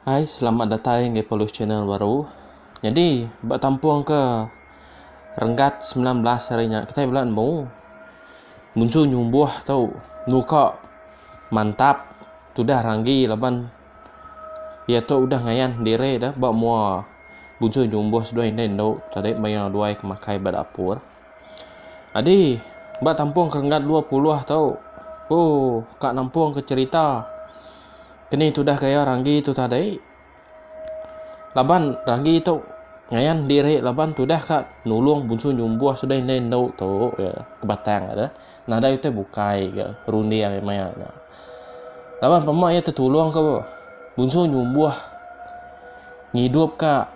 Hai selamat datai enggau Pelus Channel baru. Nyadi ba kampung ke Renggat semilan belas hari nya kitai bela nemu munsu nyumbuh tu muka mantap tudah ranggi laban iya tu udah ngayan diri ne ba mua bunsu nyumbuh seduai indu indu tadi maya duai ke makai ba dapur. Adi, ba tampung ke renggat dua puluh tu, ku ka nampung ke cherita keni tudah gaya Ranggi tu tadi. Laban Ranggi tu ngayan diri laban tudah ka nulung bunsu nyumbuh sudah indai endu tu iya ke Batang tu nadai utai bukai ke runding iya maya nya. Laban pema iya tetulung ke bunsu nyumbuh ngidupka.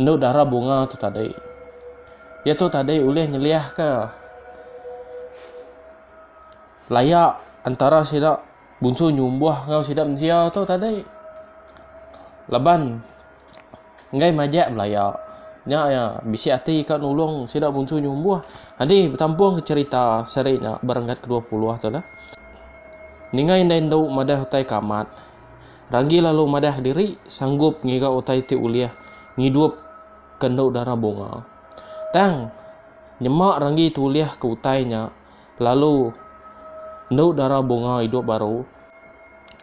Endo dara bunga tu tadi. Iya tu tadi ulih nyeliahka layak antara sida bunsu nyumbuh enggau sida mensia tu tadi. Laban enggai majak belaya nya iya bisi ati ka nulung sida bunsu nyumbuh. Adi betampung ka cherita seri nya ba renggat ke dua puluh tu lah. Ninga indai endu madah utai ke amat. Ragi lalu madah diri sanggup ngiga utai ti ulih ngidup ke endu dara bunga. Tang, nyema Ragi tulih ke utai nya lalu endu dara bunga idup baru.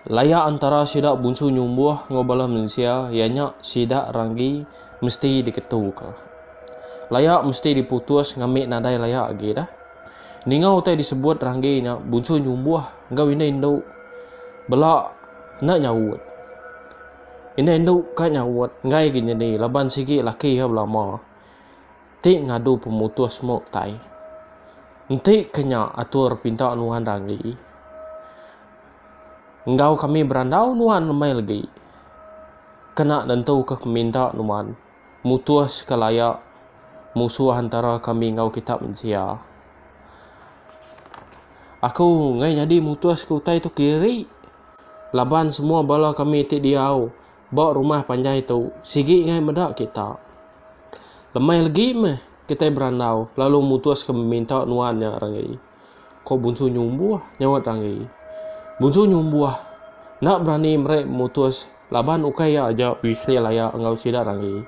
Laya antara sida bunsu nyumbuh enggau bala mensia iya nya sida Ragi mesti diketuka. Laya mesti diputus ngambi nadai laya agi dah. Ninga utai disebut Ragi nya bunsu nyumbuh. enggau indah indu bela enda nyaut. Indah indu ka nyaut enggai agi nyadi laban sigi laki iya belama ti ngadu pemutus mu utai. Enti ke nya atur pinta nuan ragi enggau kami berandau nuan lemai lagi kena nentuka peminta nuan. Mutuska layak musuh antara kami enggau kitak mensia. Aku ngai nyadi mutuska utai tu kediri laban semua bala kami ti diau ba rumah panjai tu sigi ngai meda kitak. Lemai legi meh kitai berandau lalu mutuska meminta nuan nya renggi. Ko Bunsu Nyumbuh nyaut Ranggi. Bunsu Nyumbuh enda berani meri mutus laban ukai iya aja bisi laya enggau sida Ranggi.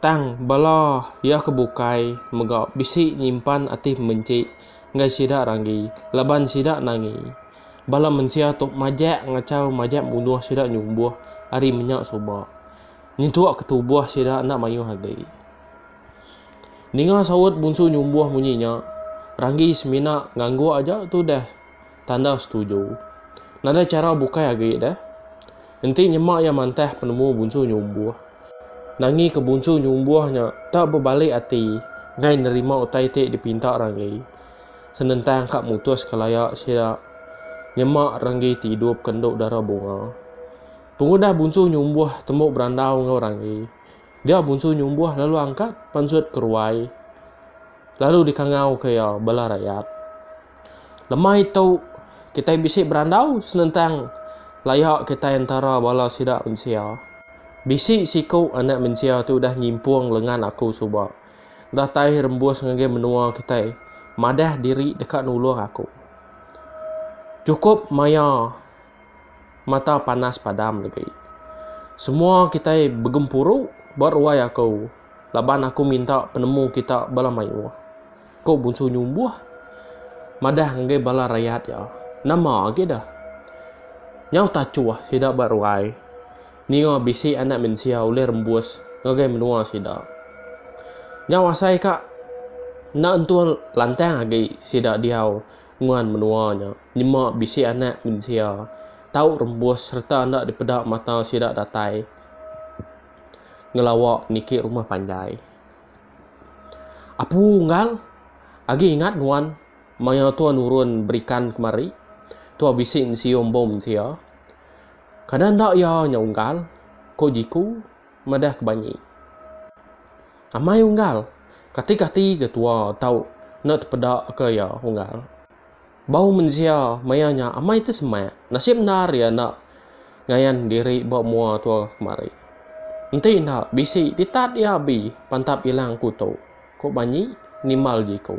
Tang bala iya ke bukai mega bisi nyimpan ati pembenci enggai sida Ranggi laban sida nangi bala mensia tu majak ngachau majak munuh sida Nyumbuh ari menya suba nyentuk ke tubuh sida enda mayuh agi. Ninga saut Bunsu nyumbuh munyi nya, Ranggi semina ngangguk aja tu deh tanda setuju. Nadai chara bukai agi deh. Enti nyema iya mantah penemu Bunsu nyumbuh. Nangika Bunsu nyumbuh nya tak bebalik ati ngai nerima utai ti dipinta Ranggi. Senentang ka mutuska laya sida nyema Ranggi ti idup ke endu dara bunga. Pengudah Bunsu nyumbuh tembu berandau enggau Ranggi. Dia Bunsu Nyumbuh lalu angkat pansut ke ruai lalu dikangauka iya bala rakyat. Lemai tu kitai bisi berandau senentang laya kitai entara bala sida mensia. Bisi siku anak mensia ti udah nyimpung lengan aku suba datai rembus ngagai menua kitai madah diri deka nulung aku. Chukup maya. mata panas padam legi. Semua kitai begempuru ba ruai aku laban aku minta penemu kita bala mayuh, ku Bunsu Nyumbuh madah ngagai bala rayat iya. Nama agi deh? Nyau tachuh sida ba ruai ninga bisi anak mensia ulih rembus ngagai menua sida. Nyau asai ka enda entul lantang agi sida diau. nguan menua nya nyema bisi anak mensia tau rembus sereta enda dipeda mata sida datai ngelawa niki rumah panjai. Apu Unggal agi ingat nuan maya tua nurun berikan kemari, tua bisi nesium bom mensia. Kada enda iya nya Unggal, ko Jiku. madah ke banyi. Amai unggal, katik ati ga tua tau enda tepeda ka iya unggal. Bau mensia maya nya amai ti semak, nasib endar iya enda ngayan diri ba mua tua kemari. Enti enda bisi ti tat iya abi pantap ilang ku tu, ku banyi nimbal jiku.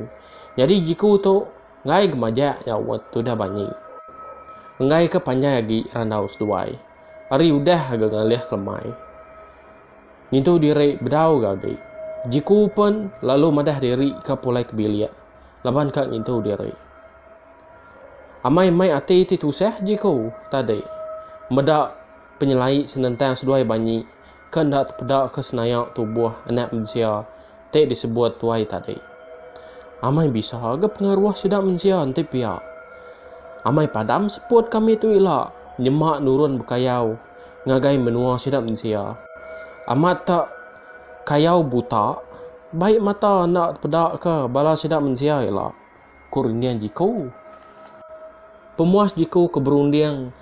Nyadi jiku tu enggai ga majak nyaup tudah banyi. Enggai ka panjai agi randau seduai. Ari udah ga ngalih kelemai. Ngintu diri bedau ga agi. Jiku pen lalu madah diri ka pulai ke bilik laban ka ngintu diri. Amai mai ati ti tusah jiku tadi meda penyelai senentang seduai banyi. ke enda tepedaka senaya tubuh anak mensia ti disebut tuai tadi. Amai bisa ga pengaruh sida mensia enti pia. Amai padam seput kami tu ila nyema nurun bekayau ngagai menua sida mensia. Amat ta kayau buta, bai mata enda tepedaka bala sida mensia ila. ku renggang jiku. Pemuas jiku ke berunding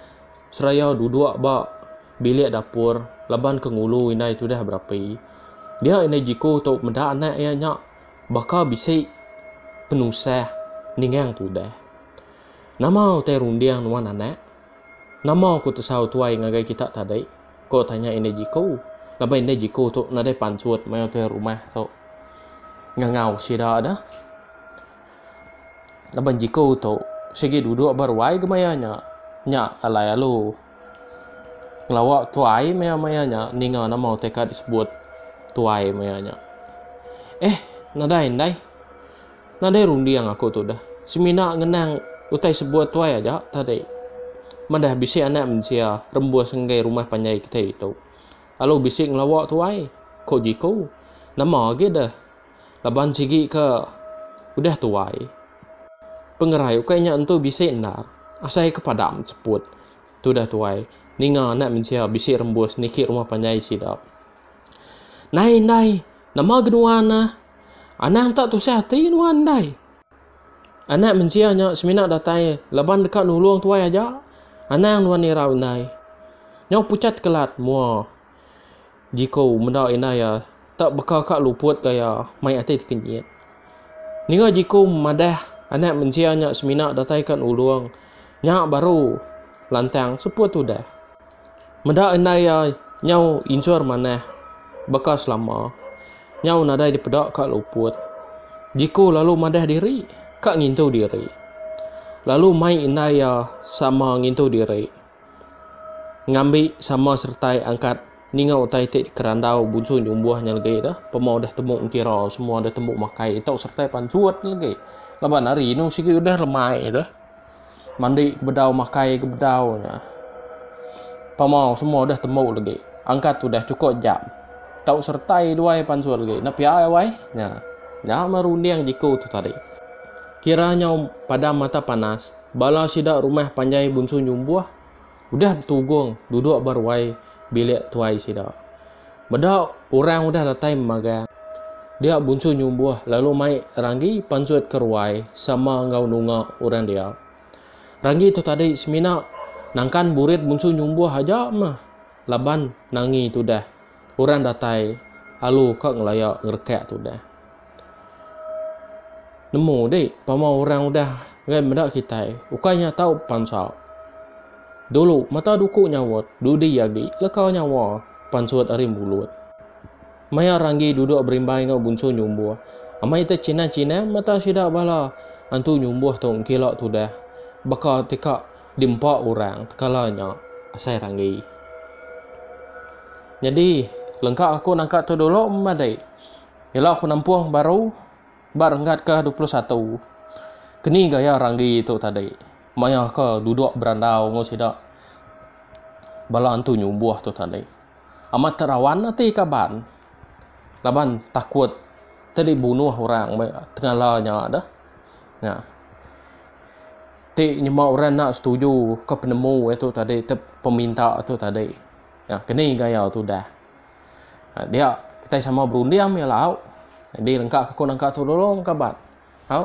seraya duduk ba bilik dapur laban ke ngulu indai tudah berapi. Dia indai jiku tu meda anak iya nya baka bisi penusah ningang tudah. Nama utai runding nuan anak? Nama ku tesau tuai ngagai kita tadi? Ko tanya indai Jiko. Laban indai Jiko tu nadai pansut maya tuai rumah tu ngangau sida dah. Laban Jiko tu sigi duduk ba ruai ke maya nya. Nya alai alu. Ngelawa tuai maya maya nya ninga nama utai ka disebut tuai maya nya. Eh nadai indai. Nadai runding aku tu deh. Semina ngenang utai sebuah tuai aja tadi. Madah bisi anak mensia rembus enggai rumah panjai kitai tu. Lalu bisi ngelawa tuai, ko Jiko. Nama agi deh. Laban sigi ke udah tuai. Pengerai ukai nya entu bisi endar. Asai ke padam seput. Tu deh tuai ninga anak mensia bisi rembus niki rumah panjai sida. Nai, nai. Nama agi nuan neh? Anang tak tusah ati nuan ndai. Anak mensia nya semina datai laban deka nulung tuai aja. Anang nuan irau indai. Nyau pucat kelat mua Jiko meda indai iya tak baka ka luput ka iya mai ati tekenyit. Ninga Jiko madah anak mensia nya semina datai ka nulung nya baru lantang seput udah. Meda indai iya nyau injur manah baka selama, nyau nadai dipeda ka luput. Diku lalu madah diri ka ngintu diri. Lalu mai indai iya sama ngintu diri ngambi sama seretai angkat ninga utai ti dikerandau busu nyumbuh nya legi tu, pemau deh tembu ngira, semua deh tembu makai, tau seretai panjut legi. Laban ari inu sigi udah lemai tu. Mandi ke bedau makai ke bedau nya. Pemau semua udah tembu lagi. Angkat udah chuko jam. Tau seretai duai pansut lagi. Enda pia ai wai. Nya. Nya meh runding jeku tu tadi. Kira nyau padam mata panas. Bala sida rumah panjai bunsu nyumbuh. Udah betugong duduk ba ruai bilik tuai sida. Meda orang udah datai memagang, dia Bunsu Nyumbuh lalu mai Ranggi pansut ke ruai sama enggau nunga orang dia. Ranggi tu tadi semina nangkan burit Bunsu Nyumbuh aja meh laban Nangi tudah Orang datai alu ka ngelaya ngerekak tudah. Nemu di pama orang udah ngai meda kitai ukai nya tau bepansa. Dulu mata duku nyawat dudi agi leka nyawa pansut ari mulut. Maya Ranggi duduk berimbai enggau Bunsu Nyumbuh, amai techinan-chinan mata sida bala antu Nyumbuh tu engkila tudah baka ti ka Di empa orang tekala nya asai ranggi. Nyadi lengka aku nangka tu dulu madi ila aku nampung baru ba renggat ke dua puluh satu. Keni gaya ranggi tu tadi maya ke duduk berandau enggau sida bala antu nyumbuh tu tadi. Amat terawan ati kaban laban takut tadi bunuh orang tengala nya deh. Nya. ti nyema orang enda setuju ke penemu iya tu tadi tep peminta tu tadi ya keni gaya tu dah ha, dia kita sama berunding meh lauk jadi lengka aku nangka tu dulu engka bat ha